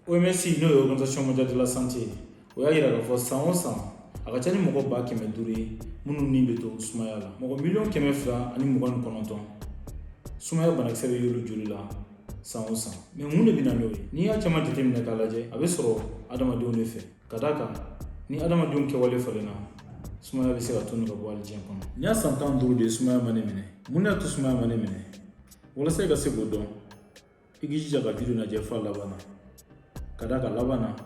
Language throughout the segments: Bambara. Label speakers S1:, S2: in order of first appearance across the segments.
S1: OMS n'o ye organisation mondiale de la santé o y'a yira k'a fɔ san o san a ka ca ni mɔgɔ ba kɛmɛ duuru ye minnu ni bɛ to sumaya la mɔgɔ miliyɔn kɛmɛ fila ani mugan ni kɔnɔntɔn sumaya banakisɛ bɛ y'olu joli la san o san mɛ mun de bɛ na n'o ye n'i y'a caman jateminɛ k'a lajɛ a bɛ sɔrɔ adamadenw de fɛ ka d'a kan ni adamadenw kɛwale falenna sumaya bɛ se ka tunu ka bɔ hali diɲɛ kɔnɔ nin y'a san tan ni duuru de ye sumaya ma ne minɛ mun de y'a to sumaya ma ne minɛ walasa i ka se k'o dɔn i k'i jija ka video lajɛ f'a laban na ka d'a kan laban na n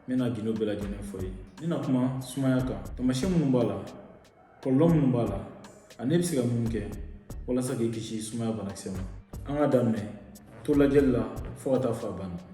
S1: bɛna gindo bɛɛ lajɛlen fɔ i ye n bɛna kuma sumaya kan taamasiyɛn minnu b'a la kɔlɔlɔ minnu b'a la ani e bɛ se ka mun kɛ walasa k'i kisi sumaya banakisɛ ma an ka daminɛ to lajɛli la fo ka taa fo a banna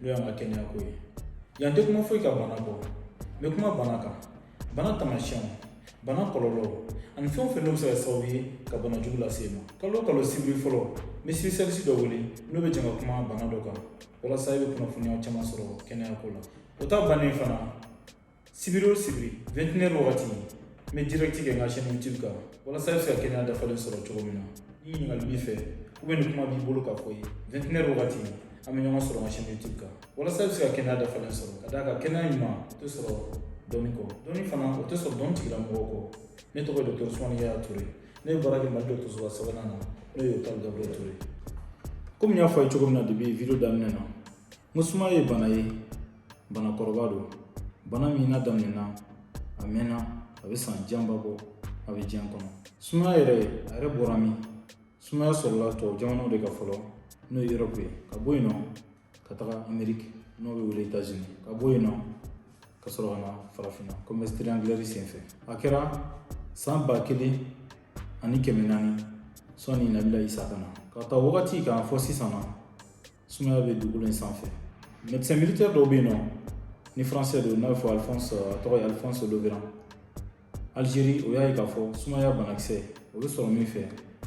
S1: n'o y'an ka kɛnɛya ko ye yan n tɛ kuma foyi kan bana kɔ n bɛ kuma bana kan bana tamasiyɛnw bana kɔlɔlɔ ani fɛn o fɛn n'o bɛ se ka sababu ye ka bana jugu lase i ma kalo o kalo sibiri fɔlɔ n bɛ spécialiste dɔ wele n'o bɛ jɛn ka kuma bana dɔ kan walasa i bɛ kunnafoniya caman sɔrɔ kɛnɛya ko la o ta bannen fana sibiri o sibiri vingt et une heures wagati n bɛ direct kɛ n ka chaîne youtube kan walasa i bɛ se ka kɛnɛya dafalen sɔrɔ cogo min na ni ɲininkali b'i fɛ ou bien ni kuma b'i bolo ka fɔ ye vingt et une heures wagati an bɛ ɲɔgɔn sɔrɔ n ka chaîne youtube kan walasa i bɛ se ka kɛnɛya dafalen sɔrɔ ka d'a kan kɛnɛya ɲuman o tɛ sɔrɔ dɔnni kɔ dɔnni fana o tɛ sɔrɔ dɔnni tigilamɔgɔw kɔ ne tɔgɔ ye docteur ousmane yaya touré ne bɛ baara kɛ mali dɔgɔtɔrɔsoba sabanan na n'o ye hôpital gabriel touré komi n y'a fɔ a ye cogo min na depuis video daminɛ na N ko sumaya ye bana ye bana kɔrɔba don bana min n'a daminɛna a mɛnna a bɛ san janba bɔ a bɛ diɲɛ kɔnɔ sumaya yɛrɛ a yɛrɛ bɔra min sumaya sɔrɔla tubabu jamanaw de kan fɔlɔ n'o ye europe ye ka bɔ yen nɔ ka taga ameriki n'o bɛ wele états-unis ka bɔ yen nɔ ka sɔrɔ ka na farafinna commerce triangulaire senfɛ a kɛra san ba kelen ani kɛmɛ naani sɔnni nabila isa ka na k'a ta wagati kan fo sisan na sumaya bɛ dugukolo in sanfɛ médecin militaire dɔ bɛ yen nɔ ni français don n'a bɛ fɔ alphonse a tɔgɔ ye alphonse laveran algérie o y'a ye k'a fɔ sumaya banakisɛ o bɛ sɔrɔ min fɛ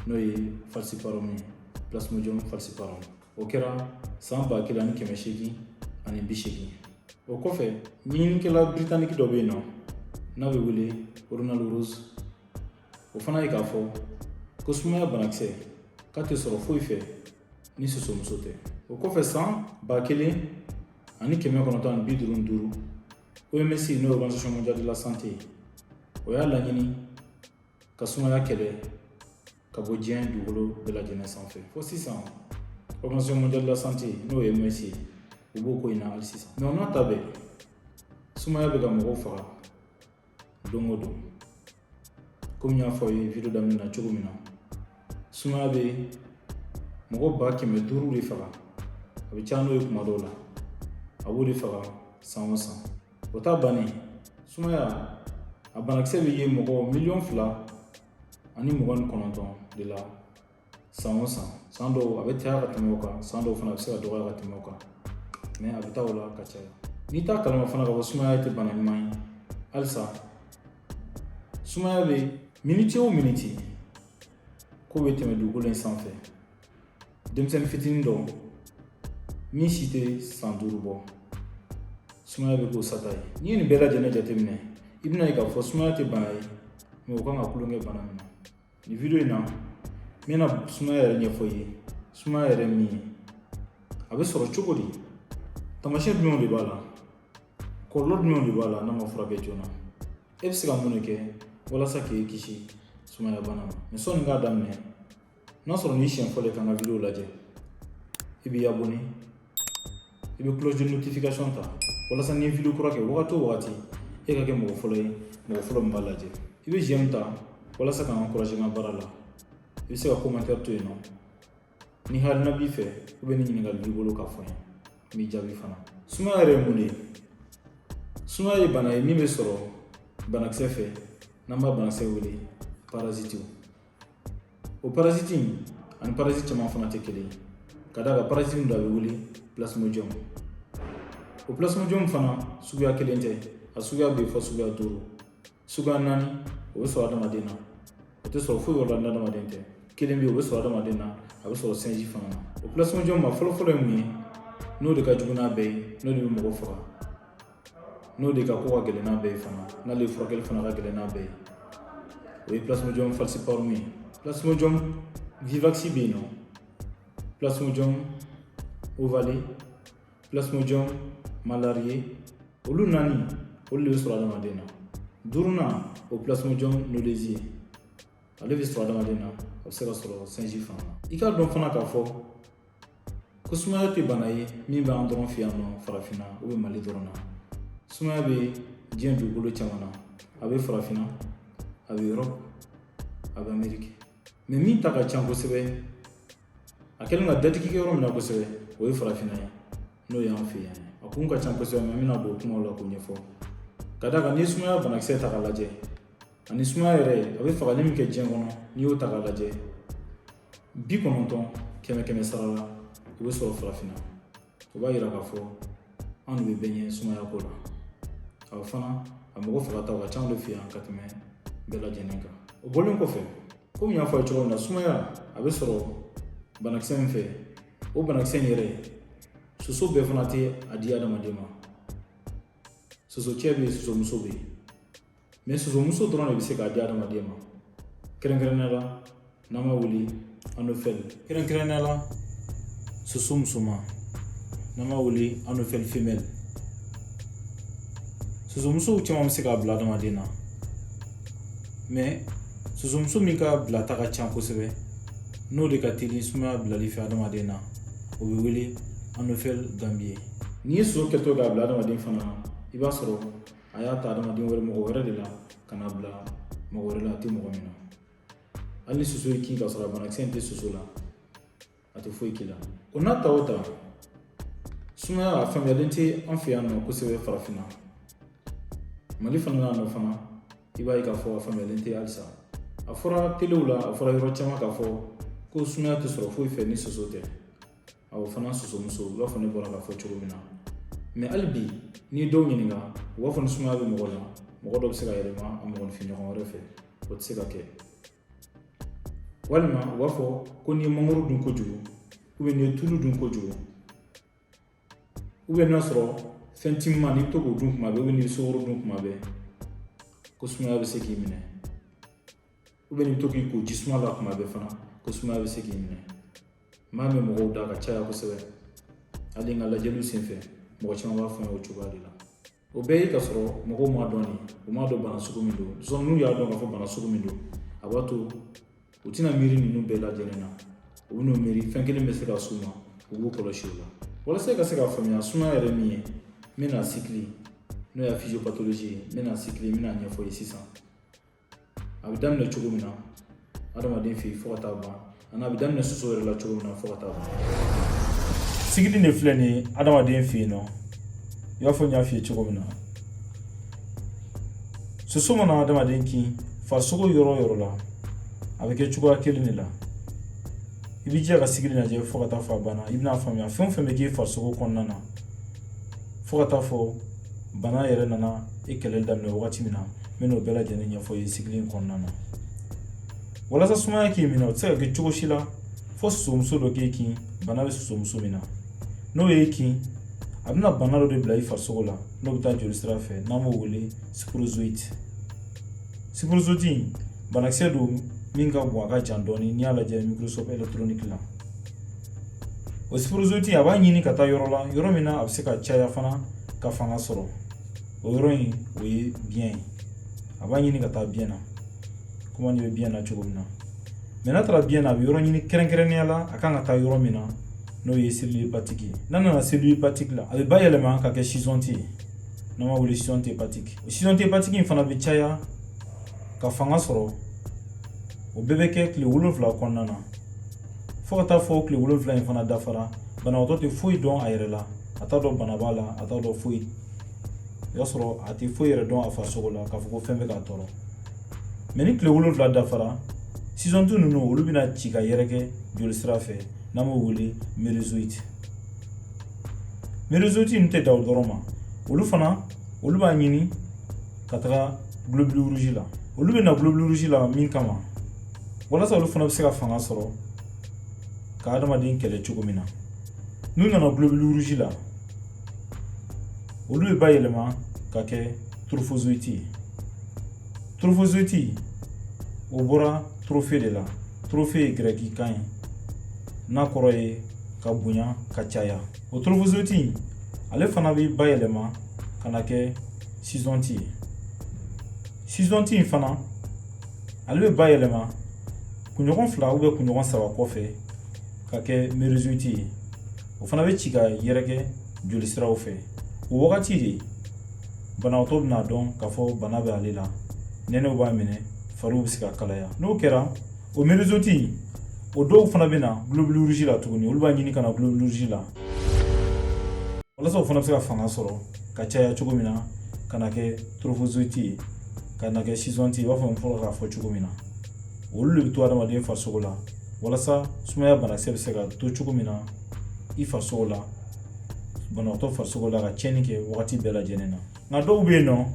S1: n'o ye falciparum ye plasmodium falciparum o kɛra san ba kelen ani kɛmɛ seegin ani bi seegin o kɔfɛ ɲininikɛla britannique dɔ bɛ yen nɔ n'a bɛ wele ronald ross o fana ye k'a fɔ ko sumaya banakisɛ k'a tɛ sɔrɔ foyi fɛ ni sosomuso tɛ o kɔfɛ san ba kelen ani kɛmɛ kɔnɔntɔn ani bi duuru ni duuru oms n'o ye organisation mondiale de la santé ye o y'a laɲini ka sumaya kɛlɛ ka bɔ diɲɛ dugukolo bɛɛ lajɛlen sanfɛ fo sisan organisation mondiale de la santé n'o ye oms ye u b'o ko in na hali sisan mɛ o n'a ta bɛɛ sumaya bɛ ka mɔgɔw faga don o don komi n y'a fɔ aw ye video daminɛ na cogo min na sumaya bɛ mɔgɔ ba kɛmɛ duuru de faga a bɛ caya n'o ye kuma dɔw la a b'o de faga san o san o ta bannen sumaya a banakisɛ bɛ ye mɔgɔ miliyɔn fila ani mugan ni kɔnɔntɔn de la san o san san dɔw a bɛ caya ka tɛmɛ o kan san dɔw fana a bɛ se ka dɔgɔya ka tɛmɛ o kan mɛ a bɛ taa o la ka caya n'i t'a kalama fana k'a fɔ sumaya tɛ bana ɲuman ye halisa sumaya bɛ miniti o miniti ko bɛ tɛmɛ dugukolo in sanfɛ denmisɛnnin fitinin dɔ min si tɛ san duuru bɔ sumaya bɛ k'o sata ye n'i ye nin bɛɛ lajɛlen jateminɛ i bɛna ye k'a fɔ sumaya tɛ bana ye mɔgɔ kan ka tulonkɛ bana min na Nin video in na n bɛna sumaya yɛrɛ ɲɛfɔ i ye sumaya yɛrɛ min ye a bɛ sɔrɔ cogo di taamasiyɛn jumɛnw de b'a la kɔlɔlɔ jumɛnw de b'a la n'a ma furakɛ joona e bɛ se ka mun de kɛ walasa k'i kisi sumaya bana ma mɛ sɔnni k'a daminɛ n'a sɔrɔ nin y'i siɲɛ fɔlɔ ye ka n ka video lajɛ i b'i abonné i bɛ cloche de notification ta walasa ni n ye video kura kɛ wagati o wagati e ka kɛ mɔgɔ fɔlɔ ye mɔgɔ fɔlɔ min b'a lajɛ i bɛ j'aime ta walasa ka n encourager n ka baara la i bɛ se ka commentaire to yen nɔ ni hakilina b'i fɛ ou bien ni ɲininkali b'i bolo k'a fɔ n ye n b'i jaabi fana sumaya yɛrɛ ye mun de ye sumaya ye bana ye min bɛ sɔrɔ banakisɛ fɛ n'an b'a banakisɛ wele parasitiw o parasiti in ani parasiti caman fana tɛ kelen ye ka d'a kan parasiti min don a bɛ wele plasmodium o plasmodium fana suguya kelen tɛ a suguya bɛ fo suguya duuru suguya naani o bɛ sɔrɔ adamaden na o tɛ sɔrɔ foyi wɛrɛ la n'adamaden tɛ kelen bɛ yen o bɛ sɔrɔ adamaden na a bɛ sɔrɔ singe fana na o plasmodium ma fɔlɔfɔlɔ ye min ye n'o de ka jugu n'a bɛɛ ye n'o de bɛ mɔgɔ faga n'o de ka ko ka gɛlɛn n'a bɛɛ ye fana n'ale furakɛli fana ka gɛlɛn n'a bɛɛ ye o ye plasmodium falciparum ye plasmodium vivax bɛ yen nɔ plasmodium ovale plasmodium malariae olu naani olu de bɛ sɔrɔ adamaden na duurunan o plasmodium knowlesi ye ale bɛ sɔrɔ adamaden na a bɛ se ka sɔrɔ singe fana i k'a dɔn fana k'a fɔ ko sumaya tɛ bana ye min b'an dɔrɔn fɛ yan nɔ farafinna ou bien mali dɔrɔn na sumaya bɛ diɲɛ dugukolo caman na a bɛ farafinna a bɛ erɔpu a bɛ ameriki mɛ min ta ka ca kosɛbɛ a kɛlen ka datigi kɛ yɔrɔ min na kosɛbɛ o ye farafinna ye n'o y'an fɛ yan a kun ka ca kosɛbɛ mɛ n bɛna don kumaw la k'o ɲɛfɔ ka d'a kan n'i ye sumaya banakisɛ ta k'a lajɛ ani sumaya yɛrɛ a bɛ fagali min kɛ diɲɛ kɔnɔ n'i y'o ta k'a lajɛ bi kɔnɔntɔn kɛmɛ kɛmɛ sara la o bɛ sɔrɔ farafinna o b'a yira k'a fɔ anw de bɛ bɛɛ ɲɛ sumaya ko la a fana a mɔgɔ fagataw ka ca anw de fɛ yan ka tɛmɛ bɛɛ lajɛlen kan o bɔlen kɔfɛ komi n y'a fɔ a ye cogo min na sumaya a bɛ sɔrɔ banakisɛ min fɛ o banakisɛ in yɛrɛ soso bɛɛ fana tɛ a di adamaden ma soso cɛ bɛ yen soso muso bɛ yen mɛ sosomuso dɔrɔn de bɛ se k'a di adamaden ma kɛrɛnkɛrɛnnenya la n'an b'a wele anofɛli kɛrɛnkɛrɛnnenya la soso musoman n'an b'a wele anofɛli femɛli sosomusow caman bɛ se k'a bila adamaden na mɛ sosomuso min ka bilata ka ca kosɛbɛ n'o de ka teli sumaya bilali fɛ adamaden na o bɛ wele anofɛli ganbiye n'i ye soso kɛtɔ k'a bila adamaden fana na i b'a sɔrɔ a y'a ta adamaden wɛrɛ mɔgɔ wɛrɛ de la ka n'a bila mɔgɔ wɛrɛ la a tɛ mɔgɔ min na hali ni soso y'i kin ka sɔrɔ a banakisɛ in tɛ soso la a tɛ foyi k'i la o n'a ta o ta sumaya a faamuyalen tɛ an fɛ yan nɔ kosɛbɛ farafinna mali fana na nɔ fana i b'a ye k'a fɔ a faamuyalen tɛ halisa a fɔra telew la a fɔra yɔrɔ caman k'a fɔ ko sumaya tɛ sɔrɔ foyi fɛ ni soso tɛ A o fana sosomuso u b'a fɔ ne bɔra k'a fɔ cogo min na mɛ hali bi n'i ye dɔw ɲininka u b'a fɔ ni sumaya bɛ mɔgɔ la mɔgɔ dɔ bɛ se k'a yɛlɛma a mɔgɔninfin ɲɔgɔn wɛrɛ fɛ o tɛ se ka kɛ walima u b'a fɔ ko n'i ye mangoro dun kojugu ubiyɛn n'i ye tulu dun kojugu ubiyɛn n'a sɔrɔ fɛn timan n'i bɛ to k'o dun kuma bɛɛ ubiyɛn n'i ye sukoro dun kuma bɛɛ ko sumaya bɛ se k'i minɛ ubiyɛn n'i bɛ to k'i ko ji suma la kuma bɛɛ fana ko sumaya bɛ se k'i minɛ n b'a mɛn mɔgɔw da ka caya kosɛbɛ hali n ka lajɛliw senfɛ mɔgɔ caman b'a fɔ n ye o cogoya de la o bɛɛ ye ka sɔrɔ mɔgɔw m'a dɔn de u m'a dɔn bana sugu min don sinɔn n'u y'a dɔn k'a fɔ bana sugu min don a b'a to u tɛna miiri ninnu bɛɛ lajɛlen na u bɛn'u miiri fɛn kelen bɛ se ka s'u ma u b'u kɔlɔsi o la walasa i ka se k'a faamuya sumaya yɛrɛ min ye n bɛna sikili n'o ye physiopathologie ye n bɛna sikili n bɛna ɲɛfɔ ye sisan a bɛ daminɛ cogo min na adamaden fɛ yen fo ka taa ban ani a bɛ daminɛ soso yɛrɛ la cogo min na fo ka taa ban sikili de filɛ nin ye adamaden fɛ yen nɔ i b'a fɔ n y'a f'i ye cogo min na soso mana adamaden kin farisogo yɔrɔ o yɔrɔ la a bɛ kɛ cogoya kelen de la i b'i jija ka sikili lajɛ fo ka taa fɔ a banna i bɛn'a faamuya fɛn o fɛn bɛ k'i farisogo kɔnɔna na fo ka taa fɔ bana yɛrɛ nana e kɛlɛli daminɛ wagati min na n bɛ n'o bɛɛ lajɛlen ɲɛfɔ i ye sigili in kɔnɔna na walasa sumaya k'i minɛ o tɛ se ka kɛ cogo si la fo sosomuso dɔ k'i kin bana bɛ sosomuso min na n'o y'i kin a bɛna bana dɔ de bila i farisogo la n'o bɛ taa joli sira fɛ n'an b'o wele sporozoïte sporozoïte banakisɛ don min ka bon a ka jan dɔɔni n'i y'a lajɛ microscope électronique la o sporozoïte a b'a ɲini ka taa yɔrɔ la yɔrɔ min na a bɛ se ka caya fana ka fanga sɔrɔ o yɔrɔ in o ye biyɛn ye a b'a ɲini ka taa biyɛn na komi an bɛ biyɛn na cogo min na mɛ n'a taara biyɛn na a bɛ yɔrɔ ɲini kɛrɛnkɛrɛnnenya la a kan ka taa yɔrɔ min na n'o ye cellule hépatique ye n'a nana cellule hépatique la a bɛ bayɛlɛma ka kɛ schizonte ye n'an b'a wele schizonte hépatique o schizonte hépatique in fana bɛ caya ka fanga sɔrɔ o bɛɛ bɛ kɛ tile wolonfila kɔnɔna na fo ka taa fɔ tile wolonfila in fana dafara banabaatɔ tɛ foyi dɔn a yɛrɛ la a t'a dɔn bana b'a la a t'a dɔn foyi i b'a sɔrɔ a tɛ foyi yɛrɛ dɔn a farisogo la k'a fɔ ko fɛn bɛ k'a tɔɔrɔ mɛ ni tile wolonfila dafara schizonte ninnu olu bɛna ci ka yɛrɛkɛ joli sira fɛ n'an b'o wele mérozoïte mérozoïte ninnu tɛ dan o dɔrɔn ma olu fana olu b'a ɲini ka taga globule rouge la olu bɛ na globule rouge la min kama walasa olu fana bɛ se ka fanga sɔrɔ ka adamaden kɛlɛ cogo min na n'u nana globule rouge la olu bɛ bayɛlɛma ka kɛ trophozoïte ye trophozoïte o bɔra trophe de la trophe ye gɛrɛki kan ye n'a kɔrɔ ye ka bonya ka caya o trophozoïte ale fana bɛ bayɛlɛma ka na kɛ schizonte ye schizonte in fana ale bɛ bayɛlɛma kunɲɔgɔn fila ou bien kunɲɔgɔn saba kɔfɛ ka kɛ mérozoïte ye o fana bɛ ci ka yɛrɛkɛ joli siraw fɛ o wagati de banabaatɔ bɛn'a dɔn k'a fɔ bana bɛ ale la nɛnɛw b'a minɛ fariw bɛ se ka kalaya n'o kɛra o mérozoïte o dɔw fana bɛ na globule rouge la tuguni olu b'a ɲini ka na globule rouge la walasa o fana bɛ se ka fanga sɔrɔ ka caya cogo min na ka na kɛ trophozoïte ye ka na kɛ schizonte ye i b'a fɔ n fɔlɔla k'a fɔ cogo min na olu de bɛ to adamaden farisogo la walasa sumaya banakisɛ bɛ se ka to cogo min na i farisogo la banabaatɔ farisogo la ka tiɲɛni kɛ wagati bɛɛ lajɛlen na nka dɔw bɛ yen nɔ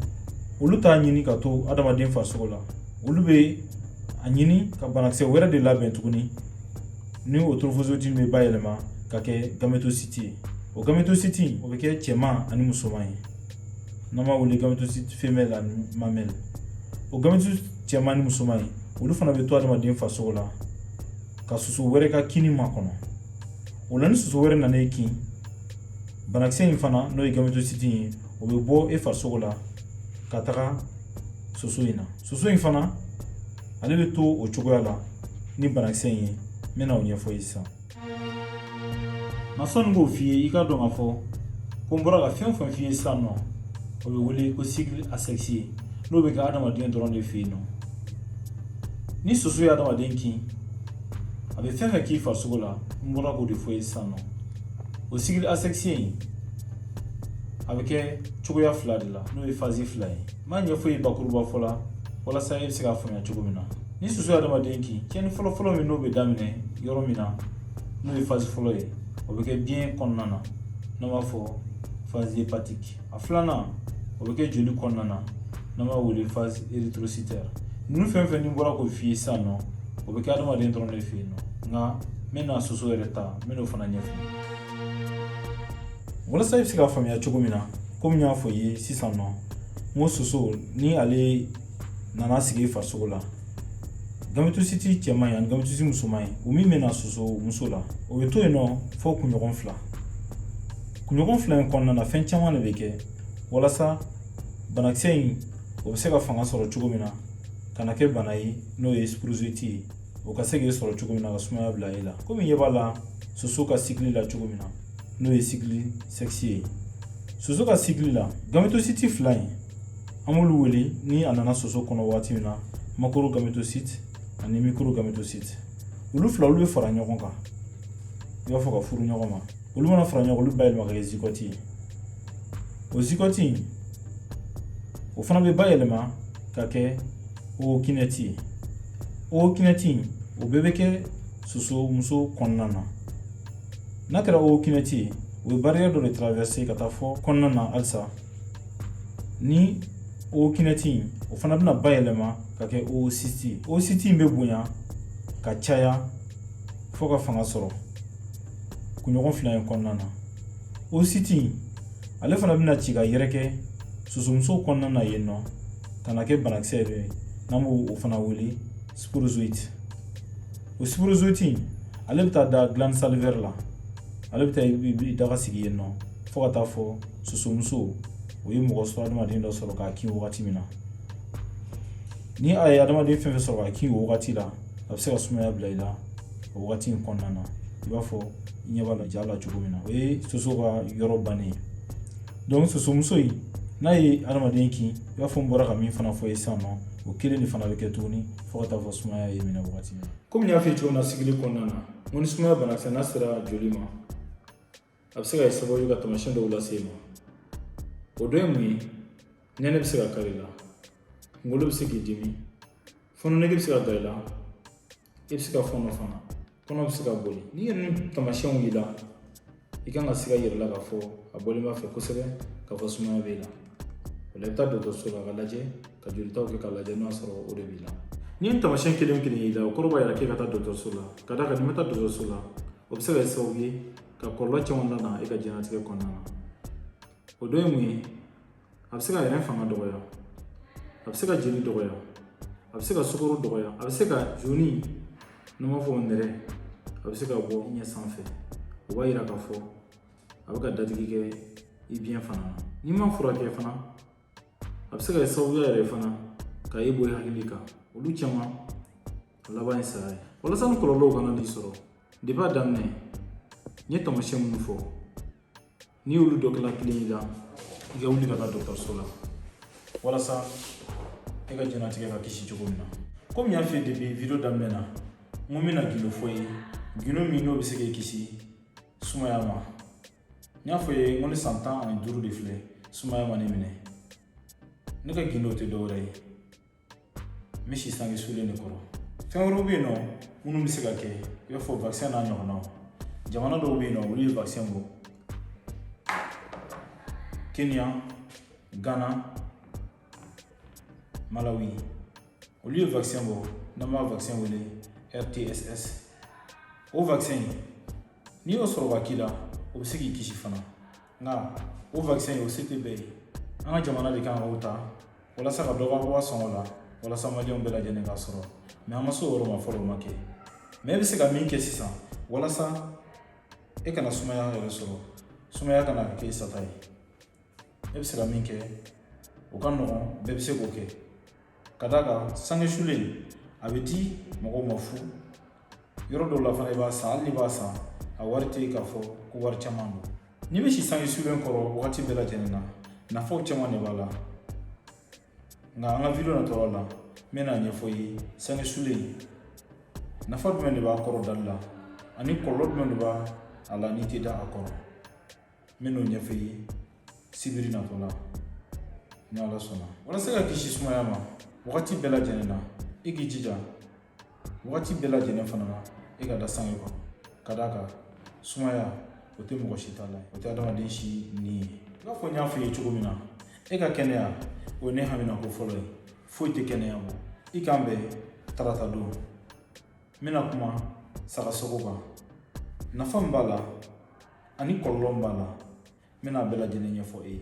S1: olu t'a ɲini ka to adamaden farisogo la olu bɛ a ɲini ka banakisɛ wɛrɛ de labɛn tuguni ni o trophozoïte bɛ bayɛlɛma ka kɛ gamétocyte ye o gamétocyte o bɛ kɛ cɛman ani musoman ye n'an b'a wele gamétocyte femelle ani mamelle o gamétocyte cɛman ni musoman ye olu fana bɛ to adamaden farisogo la ka soso wɛrɛ ka kinni makɔnɔ o la ni soso wɛrɛ nana e kin banakisɛ in fana n'o ye gamétocyte ye o bɛ bɔ e farisogo la ka taga soso in na soso in fana ale bɛ to o cogoya la ni banakisɛ in ye n bɛna o ɲɛfɔ i ye sisan nka sɔnni k'o f'i ye i k'a dɔn k'a fɔ ko n bɔra ka fɛn o fɛn f'i ye sisan nɔ o bɛ wele ko cycle asexué n'o bɛ kɛ adamaden dɔrɔn de fɛ yen nɔ ni soso ye adamaden kin a bɛ fɛn fɛn k'i farisogo la n bɔra k'o de fɔ ye sisan nɔ o cycle asexué in a bɛ kɛ cogoya fila de la n'o ye phase fila ye n b'a ɲɛfɔ ye bakuruba fɔ la walasa e bɛ se k'a faamuya cogo min na ni soso ye adamaden kin tiɲɛni fɔlɔfɔlɔ min n'o bɛ daminɛ yɔrɔ min na n'o ye phase fɔlɔ ye o bɛ kɛ biɲɛ kɔnɔna na n'an b'a fɔ phase hépatique a filanan o bɛ kɛ joli kɔnɔna na n'an b'a wele phase érythrocytaire ninnu fɛn fɛn ni bɔra k'o f'i ye sisan nɔ o bɛ kɛ adamaden dɔrɔn de fɛ yen nɔ nka n bɛna soso yɛrɛ ta n bɛn'o fana ɲɛf'i ye walasa i bɛ se k'a faamuya cogo min na komi n y'a fɔ i ye sisan nɔ n ko soso ni ale nana sigi farisogo la gamétocyte cɛman ye ani gamétocyte musoman ye o min bɛ na soso muso la o bɛ to yen nɔ fo kunɲɔgɔn fila kunɲɔgɔn fila in kɔnɔna na fɛn caman de bɛ kɛ walasa banakisɛ in o bɛ se ka fanga sɔrɔ cogo min na ka na kɛ bana ye n'o ye sporozoïte ye o ka se k'i sɔrɔ cogo min na ka sumaya bila e la komi ɲɛ b'a la soso ka cycle la cogo min na n'o ye cycle sexué ye soso ka cycle la gamétocyte fila in an b'olu wele ni a nana soso kɔnɔ waati min na macrogamétocyte ani microgamétocyte olu fila olu bɛ fara ɲɔgɔn kan i b'a fɔ ka furu ɲɔgɔn ma olu mana fara ɲɔgɔn olu bayɛlɛma ka kɛ zygote ye o zygote o fana bɛ bayɛlɛma ka kɛ ookinète ookinète in o bɛɛ bɛ kɛ soso muso kɔnɔna na n'a kɛra ookinète ye o bɛ barrière dɔ de traverser ka taa fɔ kɔnɔna na halisa ni ookinète in o fana bɛna bayɛlɛma ka kɛ oocyte oocyte in bɛ bonya ka caya fo ka fanga sɔrɔ kunɲɔgɔn fila in kɔnɔna na oocyte in ale fana bɛna ci ka yɛrɛkɛ sosomuso kɔnɔna na yen nɔ ka na kɛ banakisɛ yɛrɛ ye n'an b'o o fana wele sporozoïte o sporozoïte ale bɛ taa da glande salivaire la ale bɛ taa i daga sigi yen nɔ fo ka taa fɔ sosomuso o ye mɔgɔ sɔrɔ adamaden dɔ sɔrɔ k'a kin wagati min na ni a ye adamaden fɛn fɛn sɔrɔ k'a kin o wagati la a bɛ se ka sumaya bila i la o wagati in kɔnɔna na i b'a fɔ i ɲɛ b'a la ja la cogo min na o ye soso ka yɔrɔ bannen ye donc sosomuso in n'a ye adamaden kin i b'a fɔ n bɔra ka min fana f'i ye sisan nɔ o kelen de fana bɛ kɛ tuguni fo ka t'a fɔ sumaya y'i minɛ wagati min komi n y'a fɔ cogo min na sigili kɔnɔna na n ko ni sumaya banakisɛ n'a sera joli ma a bɛ se ka kɛ sababu ye ka taamasiyɛn dɔw lase i ma o dɔ ye mun ye nɛnɛ bɛ se ka kari i la kunkolo bɛ se k'i dimi fɔnɔ nege bɛ se ka da i la i bɛ se ka fɔnɔ fana kɔnɔ bɛ se ka boli n'i ye ninnu tamasiyɛnw y'i la i kan ka siga i yɛrɛ la k'a fɔ a bɔlen b'a fɛ kosɛbɛ k'a fɔ sumaya b'i la o la i bɛ taa dɔgɔtɔrɔso la ka lajɛ ka jolitaw kɛ k'a lajɛ n'a sɔrɔ o de b'i la n'i ye nin tamasiyɛn kelen kelen y'i la o kɔrɔ b'a yira k'e ka taa dɔgɔtɔrɔso la ka d'a kan n'i ma taa dɔgɔtɔrɔso la o bɛ se ka kɛ sababu ye ka kɔlɔlɔ caman lana e ka diɲɛnatigɛ kɔnɔna na o dɔ ye mun ye a bɛ se k'i yɛrɛ fanga dɔgɔya a bɛ se k'i jeli dɔgɔya a bɛ se k'i sukaro dɔgɔya a bɛ se ka jaune n'an b'a fɔ o nɛrɛ a bɛ se ka bɔ i ɲɛ sanfɛ o b'a yira k'a fɔ a bɛ ka dadigi kɛ i biɲɛ fana na n'i ma furakɛ fana a bɛ se ka kɛ sababuya yɛrɛ fana ka e bɔ i hakili kan olu caman a laban ye saya ye walasa nin kɔlɔlɔw kana n'i sɔrɔ depi a daminɛ n ye taamasiyɛn minnu fɔ n'i y'olu dɔ kelen kelen y'i la i ka wuli ka taa dɔgɔtɔrɔso la walasa e ka diɲɛnatigɛ ka kisi cogo min na komi n y'a f'i ye depi video daminɛ na n ko n bɛna gindo f'i ye gindo min n'o bɛ se k'i kisi sumaya ma n y'a fɔ i ye n ko ni san tan ani duuru de filɛ sumaya ma ne minɛ ne ka gindo tɛ dɔwɛrɛ ye n bɛ si sange sulen de kɔrɔ fɛn wɛrɛw bɛ yen nɔ minnu bɛ se ka kɛ i b'a fɔ vakisɛn n'a ɲɔgɔnnaw jamana dɔw bɛ yen nɔ olu ye vakisɛn bɔ kenya gana malawi olu ye vakisɛn bɔ n'an b'a vakisɛn wele rtss o vakisɛn in n'i y'o sɔrɔ k'a k'i la o bɛ se k'i kisi fana nka o vakisɛn in o se tɛ bɛɛ ye an ka jamana de kan k'o ta walasa ka dɔ ka bɔ a sɔngɔ la walasa maliyɛnw bɛɛ lajɛlen k'a sɔrɔ mɛ an ma se o yɔrɔ ma fɔlɔ o ma kɛ mɛ e bɛ se ka min kɛ sisan walasa e kana sumaya yɛrɛ sɔrɔ sumaya kana kɛ i sata ye e bɛ se ka min kɛ o ka nɔgɔn bɛɛ bɛ se k'o kɛ ka d'a kan sange sulen a bɛ di mɔgɔw ma fu yɔrɔ dɔw la fana i b'a san hali n'i b'a san a wari tɛ k'a fɔ ko wari caman don n'i bɛ si sange sulen kɔrɔ wagati bɛɛ lajɛlen na nafaw caman de b'a la nka an ka video natɔla la n bɛna a ɲɛfɔ i ye sange sulen nafa jumɛn de b'a kɔrɔ dali la ani kɔlɔlɔ jumɛn de b'a la n'i tɛ da a kɔrɔ n bɛn'o ɲɛfɔ i ye sibiri natɔ la ni ala sɔnna walasa i ka kisi sumaya ma wagati bɛɛ lajɛlen na i k'i jija wagati bɛɛ lajɛlen fana na i ka da sange kɔnɔ ka d'a kan sumaya o tɛ mɔgɔ si ta la o tɛ adamaden si ni ye i b'a fɔ n y'a f'i ye cogo min na e ka kɛnɛya o ye ne haminako fɔlɔ ye foyi tɛ kɛnɛya bɔ i k'an bɛn tarata don n bɛna kuma sagasogo kan nafa min b'a la ani kɔlɔlɔ min b'a la n bɛna a bɛɛ lajɛlen ɲɛfɔ e ye